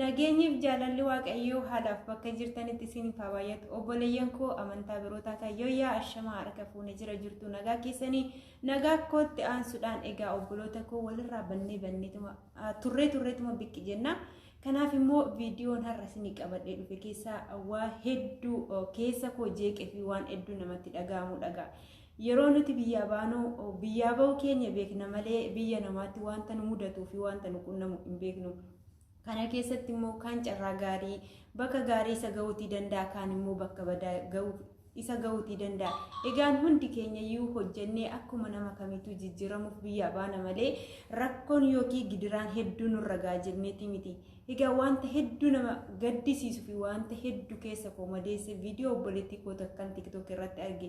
Nageenyiif jaalalli waaqayyoo haalaaf bakka jirtanitti isin haa baay'atu. Obboleeyyan koo amantaa biroo taatan yooyyaa ashamaa harka fuune jira jirtu nagaa keessanii nagaa kootti aansuudhaan egaa obboloota koo walirraa bannee banneetuma turree turreetuma biqqi jenna. Kanaaf immoo viidiyoon har'a isin qabadhee dhufe keessaa waa hedduu keessa koo jeeqee fi waan hedduu namatti dhaga'amu dhagaa. Yeroo nuti biyyaa baanu biyyaa ba'uu keenya beekna malee biyya namaatti wanta nu mudatuu fi wanta nu qunnamu hin beeknu. Kana keessatti immoo kaan carraa gaarii bakka gaarii isa ga'uutii danda'a kaan immoo bakka badaa ga'u isa ga'uutii danda'a. Egaan hundi keenya iyyuu hojjennee akkuma nama kamiituu jijjiiramuuf biyyaa baana malee rakkoon yookiin gidiraan hedduu nurra ga'a jenneeti miti. Egaa wanta hedduu nama gaddisiisu fi wanta hedduu keessa koo madeesse viidiyoo obboleettii koo takkan tiktook irratti arge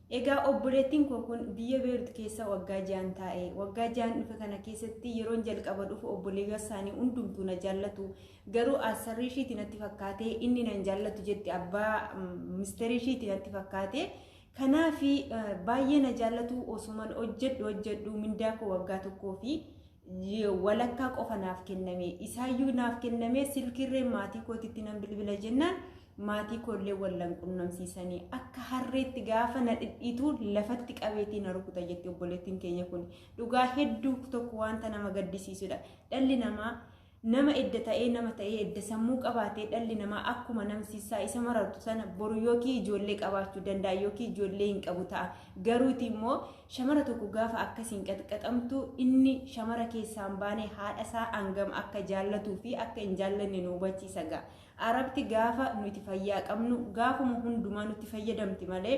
Egaa obboleettiin koo kun biyya Beerut keessa waggaa ja'an taa'e. Waggaa ja'an dhufe kana keessatti yeroon jalqaba dhufu obboleewwan isaanii hundumtuu na jaallatu. Garuu asarrii ishiiti natti fakkaatee inni nan jaallatu jetti abbaa misteerii ishiiti natti fakkaatee. Kanaaf baay'ee na jaallatu osuman hojjedhu hojjedhu mindaa koo waggaa tokkoo fi walakkaa qofa naaf kenname isaayyuu naaf kenname silkiirreen maatii kootitti nan bilbila jennaan maatii koollee wallan qunnamsiisanii akka harreetti gaafa na dhidhiitu lafatti qabeetii na rukuta jetti obboleettiin keenya kun dhugaa hedduu tokko wanta nama gaddisiisudha dhalli namaa Nama edda ta'ee nama ta'ee edda sammuu qabaatee dhalli namaa akkuma namsiisaa isa marartu sana boru yookiin ijoollee qabaachuu danda'a yookiin ijoollee hin qabu ta'a. Garuuti immoo shamara tokko gaafa akkasiin qaxqaxamtu inni shamara keessaan baanee haadha isaa hangam akka jaallatuu fi akka hin jaallanne nu hubachiisa ga'a. Arabti gaafa nuti fayyaa qabnu gaafuma hundumaa nutti fayyadamti malee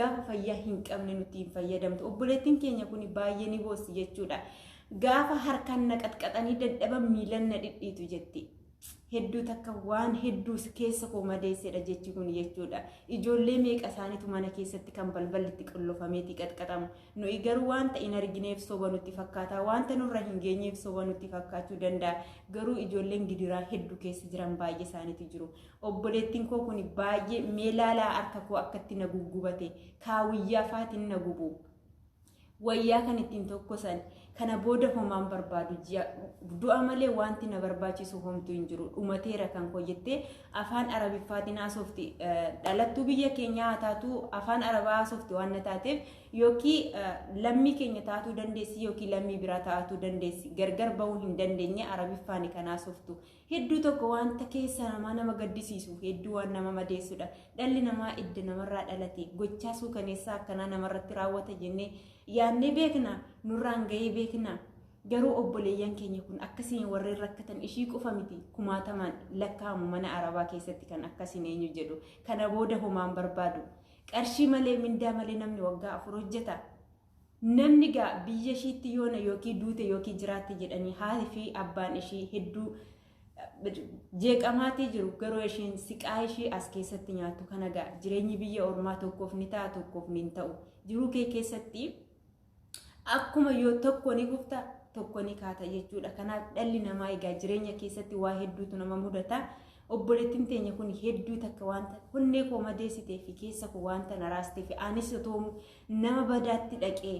gaafa fayyaa hin qabne nutti hin fayyadamtu. Obboleettiin keenya kun baay'ee ni boossi jechuudha. Gaafa harkaan na qaxqaxanii dadhaban miilan na dhidhiitu jetti. Hedduu takka waan hedduu keessa koo madeessedha jechi kun jechuudha. Ijoollee meeqa isaaniitu mana keessatti kan balballi itti qollofameeti qaxqaxamu. Nuyi garuu wanta hin argineef soba nutti fakkaata. Wanta nurra hin geenyeef soba nutti fakkaachuu danda'a. Garuu ijoolleen gidiraa hedduu keessa jiran baay'ee isaaniitu jiru. Obboleettiin koo kun baay'ee mee laalaa harka koo akkatti na guggubate kaawiyyaa faatiin na gubu. wayyaa kan ittiin tokkosan kana booda homaan barbaadu ji'a du'a malee wanti na barbaachisu homtu hin jiru dhumateera kan koo jettee afaan arabiffaatiin haasofti dhalattuu biyya keenyaa haa taatu afaan arabaa haasofti waan na taateef yookiin lammii keenya taatuu dandeessi yookiin lammii biraa taatuu dandeessi gargar bahuu hin dandeenye arabiffaan kan haasoftu Hedduu tokko wanta keessa namaa nama gaddisiisu hedduu waan nama madeessudha. Dhalli namaa idda namarraa dhalate gochaa suukaneessaa akkanaa namarratti raawwata jennee yaadnee beekna nurraan ga'ee beekna. Garuu obboleeyyan keenya kun akkasiin warreen rakkatan ishii qofa miti kumaatamaan lakkaa'amu mana arabaa keessatti kan akkasiin eenyu jedhu kana booda homaan barbaadu. Qarshii malee mindaa malee namni waggaa afur hojjeta. Namni gaa biyya ishiitti yoona yookiin duute yookiin jiraatti jedhanii haati fi abbaan ishii hedduu jeeqamaatii jiru garuu ishiin siqaa ishii as keessatti nyaattu kana gaa jireenyi biyya ormaa tokkoof ni ta'a tokkoof ni ta'u jiruu kee keessatti akkuma yoo tokko ni kufta tokko ni kaata jechuudha kanaaf dhalli namaa egaa jireenya keessatti waa hedduutu nama mudata obboleettiin teenya kun hedduu takka wanta onnee koo madeessitee fi keessa koo wanta naraaste fi anis otoo Nama badaatti dhaqee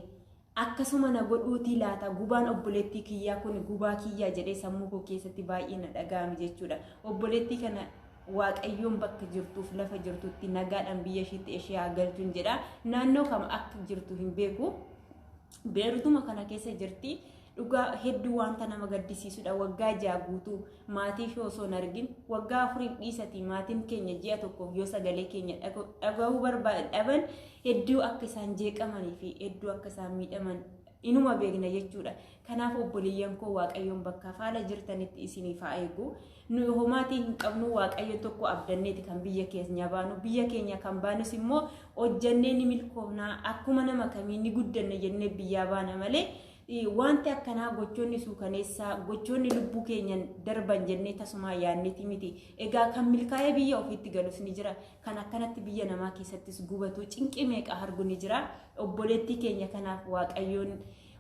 akkasuma na godhuutii laata gubaan obboleettii kiyyaa kun gubaa kiyyaa jedhee sammuu koo keessatti baay'ee na dhaga'ame jechuudha. Obboleettii kana waaqayyoon bakka jirtuuf lafa jirtutti nagaadhaan biyya ishiitti ishee haa galchuun jedha. Naannoo kam akka jirtu hin beeku. Beerutuma kana keessa jirti. Dhugaa hedduu wanta nama gaddisiisudha. Waggaa ja'a guutuu maatii fi osoo hin argin waggaa afuriif dhiisatii maatiin keenya ji'a tokkoof yoo sagalee keenya dhagahuu barbaadan dhaban hedduu akka isaan jeeqamanii fi hedduu akka isaan miidhaman inuma beekna jechuudha. Kanaaf obboleeyyan koo waaqayyoon bakka faala jirtanitti isiniif haa eegu. Nu homaatii hin qabnu waaqayyoon tokko abdanneeti kan biyya keenya baanu. Biyya keenya kan baanus immoo hojjannee ni milkoofna. Akkuma nama kamii ni guddanna jennee biyyaa baana malee Wanti akkanaa gochoonni suukaneessaa gochoonni lubbuu keenyan darban jennee tasumaa yaadneeti miti. Egaa kan milkaa'ee biyya ofiitti galus ni jira. Kan akkanatti biyya namaa keessattis gubatu cinqii meeqa argu ni jira. Obboleettii keenya kanaaf waaqayyoon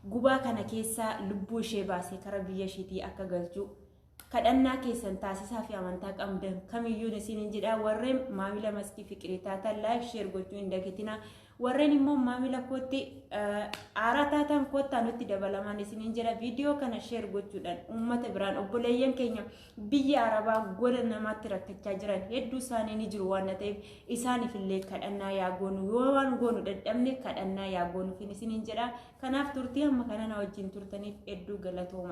gubaa kana keessaa lubbuu ishee baasee kara biyya ishiitii akka galchu kadhannaa keessan taasisaa fi amantaa qabdan kamiyyuu isiniin jedha warreen maamila maskii fiqirii taatan laayif sheer gochuu hin dagatina warreen immoo maamila kootti aaraa taatan koottaa nutti dabalamaan isiniin jedha viidiyoo kana sheer gochuudhaan uummata biraan obboleeyyan keenya biyya arabaa gola namaatti rakkachaa jiran hedduu isaanii ni jiru waan ta'eef isaaniif illee kadhannaa yaa goonu yoo waan goonu dadhabne kadhannaa yaa goonuuf isiniin jedha kanaaf turtii amma kana na wajjin turtaniif hedduu galatooma.